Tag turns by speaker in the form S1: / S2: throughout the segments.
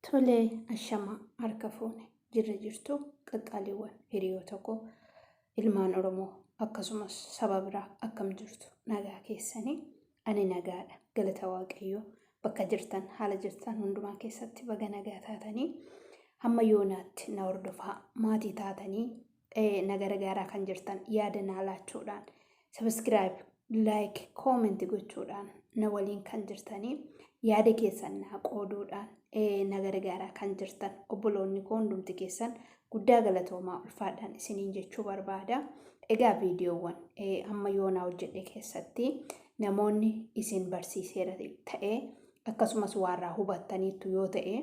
S1: Tole ashama harka fuune jirra jirtu qaqqaaliiwwan hiriyoota koo ilmaan Oromoo akkasumas saba biraa akkam jirtu nagaa keessanii ani nagaadha galata waaqayyoo bakka jirtan haala jirtan hundumaa keessatti baga nagaa taatanii hamma yoonaatti na hordofaa maatii taatanii na gargaaraa kan jirtan yaada naa laachuudhaan sabiskiraayib laayik koomenti gochuudhaan na waliin kan jirtanii yaada keessan naa qooduudhaan na gargaaraa kan jirtan obboloonni koo hundumti keessan guddaa galatoomaa ulfaadhaan isiniin jechuu barbaada. Egaa viidiyoowwan amma yoonaa hojjedhe keessatti namoonni isin barsiiseera ta'ee akkasumas waarraa hubattaniittu yoo ta'e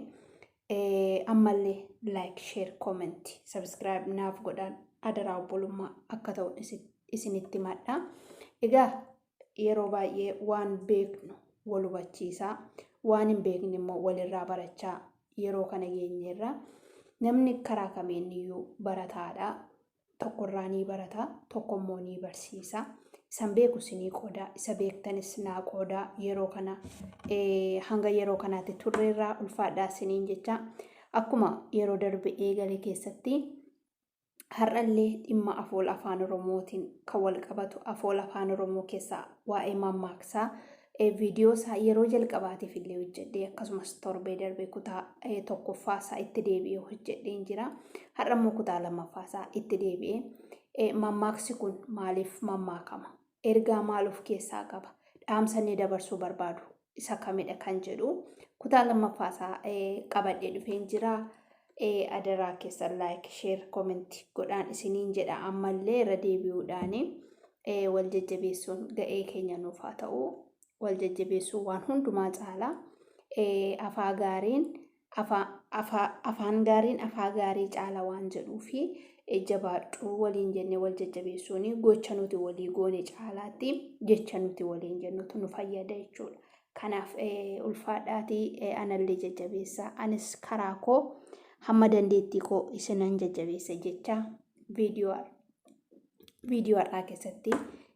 S1: Ammallee like share comment subscribe naaf godhaan adaraa obbolummaa akka ta'u isinitti madha. Egaa yeroo baay'ee waan beeknu wal hubachiisaa waan hin beekne immoo walirraa barachaa yeroo kana geenyeerra namni karaa kamiiniyyuu barataadha. tokko irraa nii barata tokko immoo nii barsiisa isan beeku sinii qoodaa isa beektanis naa qoodaa yeroo kana hanga yeroo kanaatti turre irraa ulfaadhaa siniin jecha akkuma yeroo darbe eegale keessatti har'allee dhimma afoola afaan oromootiin kan wal qabatu afoola afaan oromoo keessaa waa'ee mammaaksaa viidiyoo isaa yeroo jalqabaatiif illee hojjedhee akkasumas torbee darbee kutaa tokkoffaa isaa itti deebi'ee hojjedheen jira. Har'a immoo kutaa lammaffaa isaa itti deebi'ee mammaaksi kun maaliif mammaakama? Ergaa maal of keessaa qaba? Dhaamsa inni dabarsuu barbaadu isa kamidha kan jedhu kutaa lammaffaa isaa qabadhee dhufeen jira. ee adaraa keessan like share comment godhaan isiniin jedha ammallee irra deebi'uudhaani ee wal jajjabeessuun ga'ee keenya nuuf haa ta'u wal jajjabeessuu waan hundumaa caalaa ee afaa gaariin afaa afaa afaan gaariin afaa gaarii caala waan jedhuu fi ee, jabaadhu waliin jennee wal jajjabeessuun gocha nuti walii goone caalaatti jecha nuti waliin jennutu nu fayyada jechuudha. Kanaaf ulfaadhaatii anallee jajjabeessaa. Anis karaa koo hamma dandeettii koo isinan jajjabeessa jecha viidiyoo viidiyoo har'aa keessatti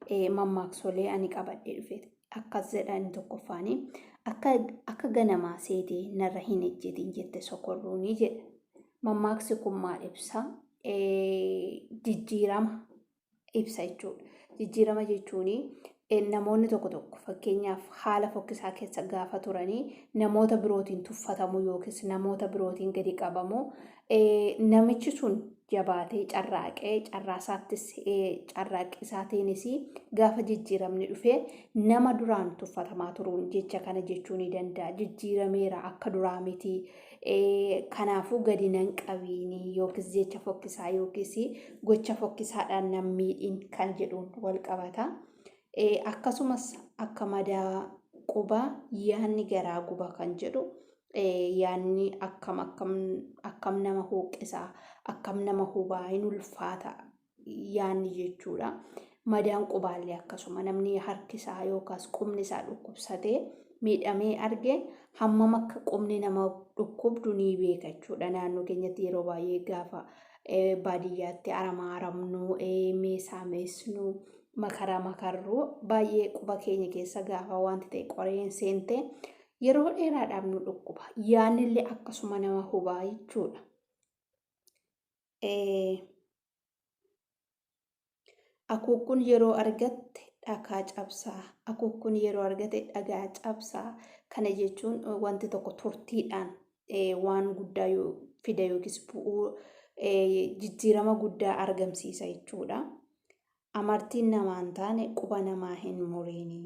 S1: eh, mammaaksolee ani qabadhee dhufe akkas jedha inni tokkoffaani akka akka ganamaa seetee narra hin ejjetin jette sokorruuni jedha. Mammaaksi kun maal ibsa? Eh, Jijjiirama ibsa jechuudha. Jijjiirama jechuun namoonni tokko tokko fakkeenyaaf haala fokkisaa keessa gaafa turanii namoota birootiin tuffatamuu yookiis namoota birootiin gadi qabamuu namichi sun jabaatee carraaqee carraasaattis carraaqqisaatiinis gaafa jijjiiramni dhufee nama duraan tuffatamaa turuun jecha kana jechuu ni danda'a. Jijjiirameera akka duraa miti Kanaafuu gadi nan qabiin yookiis jecha fokkisaa yookiis gocha fokkisaadhaan nan miidhin kan jedhuun wal qabata. Akkasumas akka madaa qubaa yaanni garaa guba kan jedhu yaanni akkam akkam akkam nama hooqqisa akkam nama hubaa hin ulfaata yaanni jechuudha. Madaan qubaallee akkasuma namni harki isaa yookaas qubni isaa dhukkubsatee miidhamee arge hammam akka qubni nama dhukkubdu ni beeka jechuudha. Naannoo keenyatti yeroo baay'ee gaafa baadiyyaatti aramaa aramnu, meesaa meesnu, makaraa makarru baay'ee quba keenya keessa gaafa wanti ta'e qoreen seente yeroo dheeraadhaaf nu dhukkuba. Yaannillee akkasuma nama hubaa jechuudha. Akuukkuun yeroo argatte dhakaa cabsaa. Akuukkuun yeroo argate dhagaa cabsaa. Kana jechuun wanti tokko turtiidhaan waan guddaa fida yookiis bu'uu jijjiirama guddaa argamsiisa jechuudha. Amartiin namaa hin taane quba namaa hin muriini.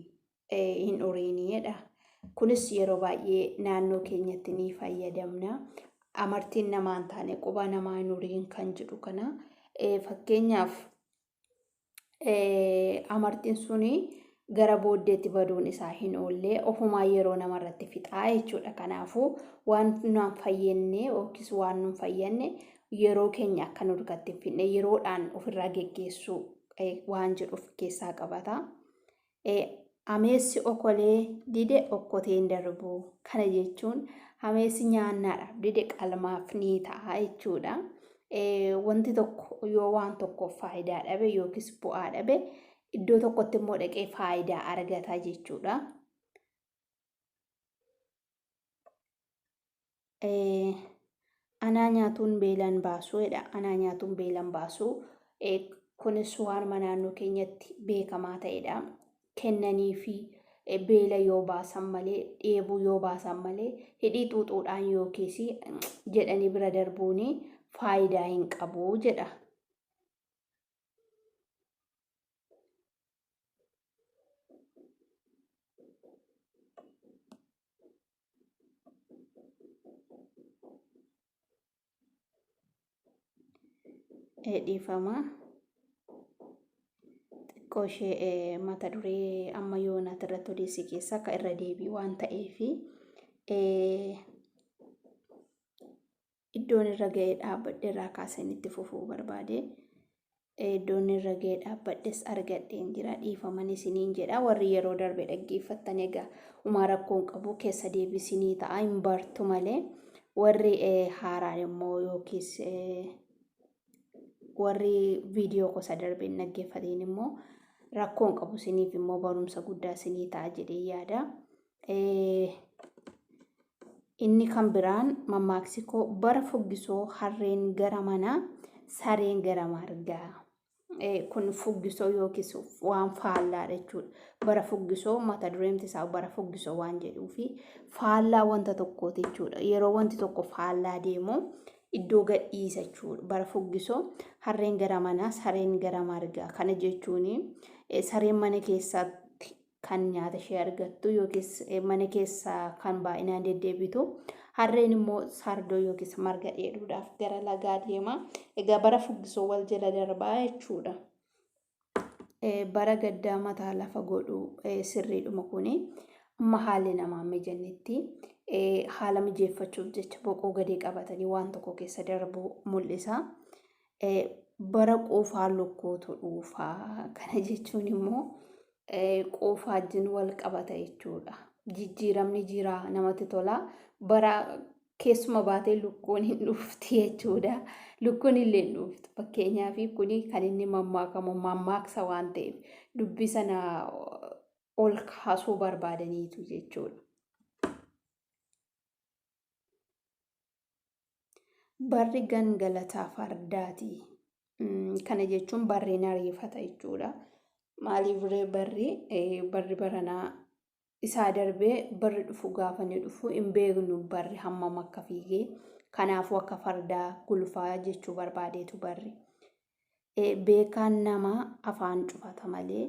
S1: hin uriin jedha. Kunis yeroo baay'ee naannoo keenyatti ni fayyadamna. Amartiin namaa hin taane quba namaa hin uriin kan jedhu kana fakkeenyaaf amartiin suni gara booddeetti baduun isaa hin oolle ofumaa yeroo namarratti fixaa jechuudha. Kanaafuu waan naan fayyenne yookiis waan nun fayyanne yeroo keenya akka nu dukkatti hin fidne yeroodhaan ofirraa geggeessuu waan jedhu of keessaa qabata. e Ameessi okolee dide okkotee hin darbu. Kana jechuun ameessi nyaannaadhaaf dide qalmaaf ni ta'a jechuudha. Wanti tokko yoo waan tokkoof faayidaa dhabe yookiis bu'aa dhabe iddoo tokkotti immoo dhaqee faayidaa argata jechuudha. anaa nyaatuun beelan baasuu jedha. Anaa nyaatuun beelan baasuu. Kunis waanuma naannoo keenyatti beekamaa ta'edha. Kennanii fi beela yoo baasan malee, dheebuu yoo baasan malee, hidhii xuuxuudhaan yookiis jedhanii bira darbuun faayidaa hin qabu jedha. dhiifama xiqqoo ishee mata duree amma yoonaati irratti odeessi keessa akka irra deebii waan ta'eefi iddoon irra ga'ee dhaabbadhe irraa kaaseen itti fufuu barbaade. Iddoon irra ga'ee dhaabbadhes argadheen jira dhiifaman isiniin jedha warri yeroo darbe dhaggeeffattan egaa umaa rakkoon qabu keessa deebisinii ta'a hin bartu malee warri haaraan immoo yookiis warri viidiyoo gosa darbe hin dhaggeeffatiin immoo rakkoon qabu isiniif immoo barumsa guddaa isinii ta'a jedhee yaada. Inni kan biraan mammaaksi koo bara fuggisoo harreen gara manaa sareen gara margaa. Kun fuggisoo yookiis waan faallaadha jechuudha. Bara fuggisoo mata dureemti isaa bara fuggisoo waan jedhuu fi faallaa wanta tokkooti jechuudha. Yeroo wanti tokko faallaa deemu iddoo gadhiisa jechuudha. Bara fuggisoo harreen gara manaa sareen gara margaa. Kana jechuun sareen mana keessatti kan nyaata ishee argattu yookiis mana keessa kan baay'inaan deddeebitu. Harreen immoo sardoo yookiis marga dheeduudhaaf gara lagaa deema. Egaa bara fuggisoo wal jala darbaa jechuudha. Bara gaddaa mataa lafa godhu sirriidhuma kuni. Amma haalli namaa mijannetti haala mijeeffachuuf jecha boqoo gadee qabatanii waan tokko keessa darbu mul'isa. bara quufaa lukkuutu dhuufa. Kana jechuun immoo quufaa wajjin wal qabata jechuudha. Jijjiiramni jira namatti tola. Bara keessuma baatee lukkuun hin dhufti jechuudha. Lukkuun illee hin dhuftu. Fakkeenyaaf kuni kan inni mammaakamu mammaaksa waan ta'eef dubbii sana ol kaasuu barbaadaniitu jechuudha. Barri gangalataa fardaati. Kana jechuun barri nariifata jechuudha. Maaliif ree barri barri baranaa isaa darbee barri dhufu gaafa ni dhufu hin beeknu barri hammam akka fiigee kanaafuu akka fardaa gulufaa jechuu barbaadeetu barri. beekaan nama afaan cufata malee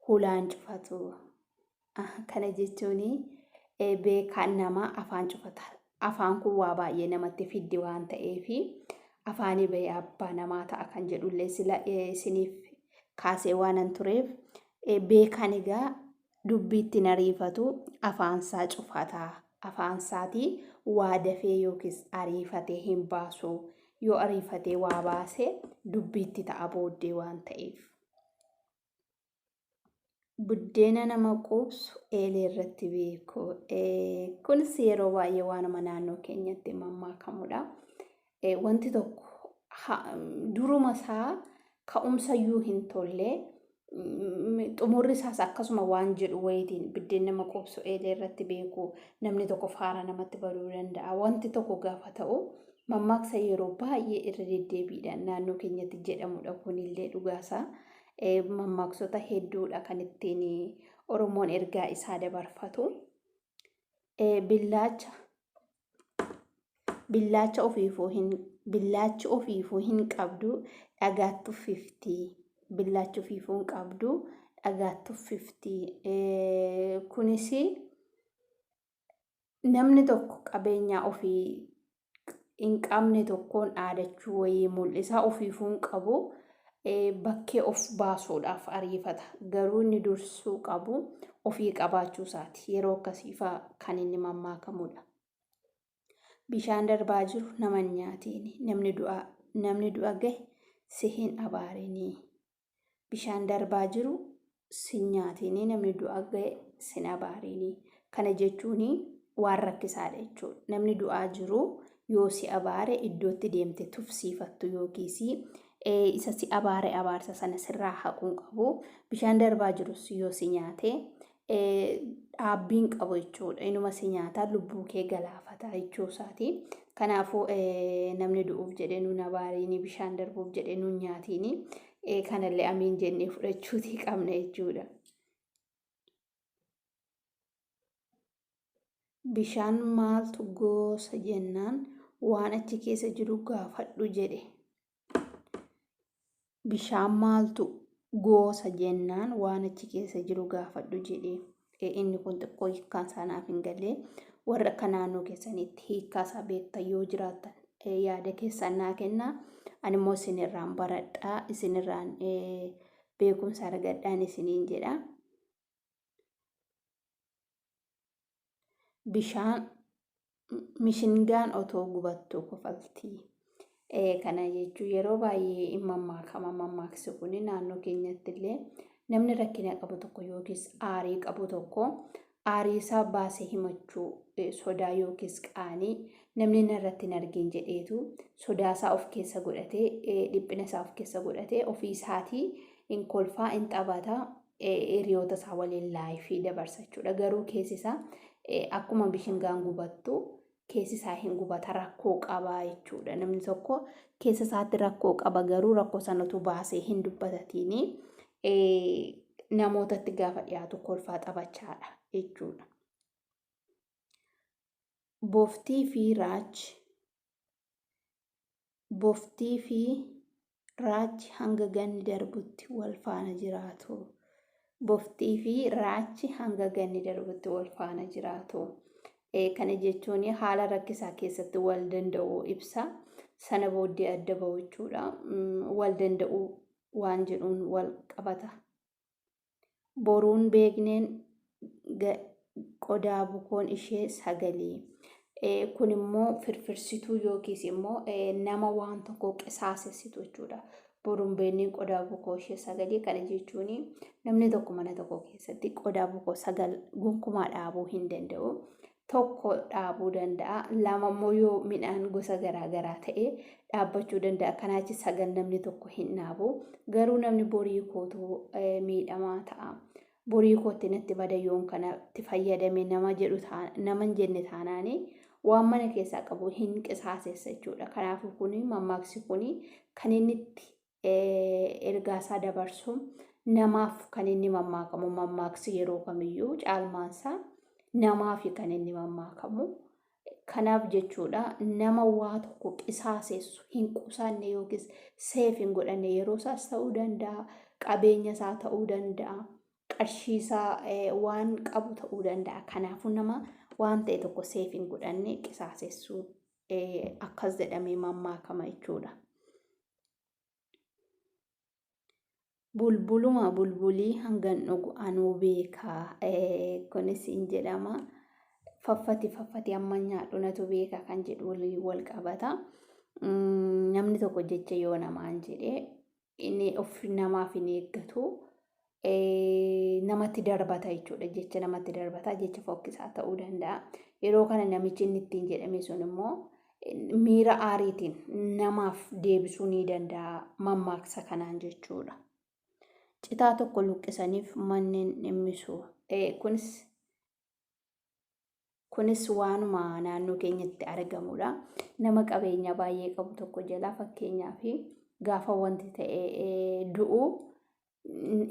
S1: hulaan cufatu. Kana jechuun beekaan nama afaan cufata. Afaan kun waa baay'ee namatti fiddi waan ta'eef afaanii bahee abbaa namaa ta'a kan jedhullee sila isiniif kaasee waanan tureef beekaan egaa dubbiitti nariifatu afaansaa cufata. Afaansaatii waa dafee yookiis ariifatee hin baasu. Yoo ariifatee waa baase dubbiitti ta'a booddee waan ta'eef. Buddeena nama quubsu eelee irratti beeku. Kunis yeroo baay'ee waanuma naannoo keenyatti mammaakamudha. wanti tokko duruma isaa ka'umsayyuu hin tolle xumurri isaas akkasuma waan jedhu wayitiin biddeen nama qubsu eelee irratti beeku namni tokko faara namatti baduu danda'a wanti tokko gaafa ta'u mammaaksa yeroo baay'ee irra deddeebiidhaan naannoo keenyatti jedhamudha kunillee dhugaasaa mammaaksota hedduudha kan ittiin oromoon ergaa isaa dabarfatu billaacha billaacha ofiifuu hin billaachi ofiifuu hin qabdu dhagaatti uffifti billaachi ofiifuu hin qabdu dhagaatti uffifti kunis namni tokko qabeenyaa ofii hin qabne tokkoon dhaadachuu wayii mul'isa ofiifuu hin qabu bakkee of baasuudhaaf ariifata. Garuu inni dursuu qabu ofii qabaachuu isaati. Yeroo akkasiifaa kan inni mammaakamudha. Bishaan darbaa jiru nama hin nyaatiini. Namni du'a namni du'a gahe si hin abaarinii. Bishaan darbaa jiru sin nyaatiinii namni du'a ga'e sin abaariinii kana jechuun waan rakkisaadha jechuudha namni du'aa jiru yoo si abaare iddootti deemte tufsiifattu yookiis isa si abaare abaarsa sana sirraa haquun qabu bishaan darbaa jirus yoo si nyaate dhaabbiin qabu jechuudha inuma si nyaataa lubbuu kee galaafata jechuu isaati kanaafuu namni du'uuf jedhee nuun abaariinii bishaan darbuuf jedhee nuun nyaatiinii kanallee amiin jennee fudhachuutii qabna jechuudha. Bishaan maaltu goosa jennaan waan achi keessa jiru gaafadhu jedhe. Bishaan maaltu goosa jennaan waan achi keessa jiru gaafadhu jedhe. Inni kun xiqqoo hiikkaan isaa naaf hin galle. Warra akka naannoo keessaniitti hiikkaa isaa beektan yoo jiraattan yaada keessan naa kenna. Ani immoo isinirraan baradhaa, isinirraan beekumsa argadhaan isiniin jedha. Bishaan mishingaan otoo gubattuu kofalti. Kana jechuun yeroo baay'ee hin mammaakama mammaaksi kun naannoo keenyatti illee namni rakkina qabu tokko yookiis aarii qabu tokko aarii isaa baasee himachuu sodaa yookiis qaanii namni narratti hin argin jedheetu sodaa isaa of keessa godhatee dhiphina isaa of keessa godhatee ofii isaatii hin kolfaa hin taphataa hiriyoota isaa waliin laayifii dabarsa jechuudha. Garuu keessi isaa akkuma bishingaan gubattu keessi isaa hin gubata rakkoo qaba jechuudha. Namni tokko keessa isaatti rakkoo qaba garuu rakkoo sanatu baasee hin dubbatatiini namootatti gaafa dhiyaatu kolfaa taphachaadha jechuudha. Boftii fi Raaj boftii fi raachi hanga ganni darbutti wal faana jiraatu. Boftii fi raachi hanga ganni darbutti wal faana jiraatu. Kana jechuun haala rakkisaa keessatti wal danda'uu ibsa. Sana booddee adda ba'u jechuudha. Wal danda'uu waan jedhuun wal qabata. Boruun beekneen qodaa bukoon ishee sagalii. Kun immoo firfirsituu yookiis immoo nama waan tokko qisaasessitu jechuudha. Boruun beekneen qodaa bukoo ishee sagalii kana jechuun namni tokko mana tokko keessatti qodaa bukoo sagal gonkumaa dhaabuu hin danda'u. tokko dhaabuu danda'a. Lama immoo yoo midhaan gosa garaa garaa ta'e dhaabbachuu danda'a. Kanaachi sagal namni tokko hin dhaabu. Garuu namni borii kootu miidhamaa ta'a. Borii kootti natti bada yoon kanatti fayyadame nama jedhu nama hin jenne taanaani waan mana keessaa qabu hin qisaasessa jechuudha. Kanaafuu kun mammaaksi kun kan inni itti ergaasaa dabarsu namaaf kan inni mammaakamu mammaaksi yeroo kamiyyuu caalmaansaa namaafi kan inni mammaakamu. Kanaaf jechuudha nama waa tokko qisaasessu hin qusanne yookiis seef hin godhanne yeroo isaas ta'uu danda'a, qabeenya isaa ta'uu danda'a, qarshii isaa waan qabu ta'uu danda'a. Kanaafuu nama waan ta'e tokko seef hin godhanne qisaasessu akkas jedhamee mammaakama jechuudha. bulbuluma bulbulii hangan dhugu anuu beekaa kunis hin jedhama faffati faffati amma nyaadhu natu beeka kan jedhu waliin wal qabata namni tokko jecha yoo namaan jedhe inni of namaaf hin eeggatu namatti darbata jechuudha. Jecha namatti darbata jecha fokkisaa ta'uu danda'a. Yeroo kana namichi inni ittiin jedhame sun immoo miira aariitiin namaaf deebisuu ni danda'a mammaaksa kanaan jechuudha. Citaa tokko luqqisaniif manneen dhimmisu. Kunis Kunis waanuma naannoo keenyatti argamudha. Nama qabeenya baay'ee qabu tokko jalaa fakkeenyaaf gaafa wanti ta'e du'u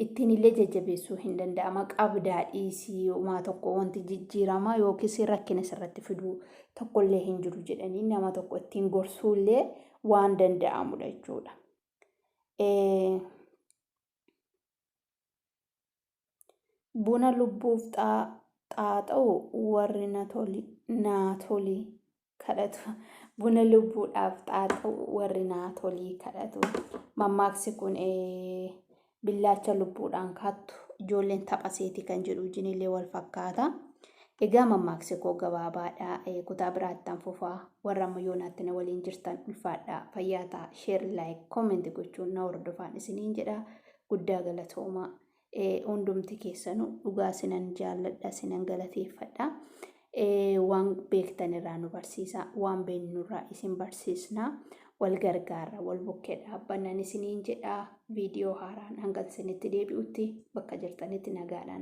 S1: ittiin illee jajjabeessuu hin danda'ama. Qabdaa dhiisii uumaa tokko wanti jijjiirama yookiis rakkina irratti fiduu tokkollee hin jiru jedhanii nama tokko ittiin gorsuu illee waan danda'amudha jechuudha. Buna lubbuuf xaaxa'u warri naa toli kadhatu. Buna lubbuudhaaf xaaxa'u warri naa toli kadhatu. Mammaaksi kun billaacha lubbuudhaan kaattu ijoolleen tapha seetii kan jedhu wajjinillee wal fakkaata. Egaa mammaaksi koo gabaabaadha. Kutaa biraattan fufaa. Warra amma yoonaatti na waliin jirtan ulfaadhaa. Fayyaa ta'a. Sheer, laayik, koomenti gochuun na hordofaan isiniin jedha. Guddaa galatoomaa. Hundumti keessanuu dhugaa sinan jaalladha sinan galateeffadha. Waan beektan irraa nu barsiisa. Waan beeknu irraa isin barsiisna. Wal gargaarra wal bukkee dhaabbannan isiniin jedha. Viidiyoo haaraan hanga isinitti deebi'utti bakka jirtanitti nagaadhaan.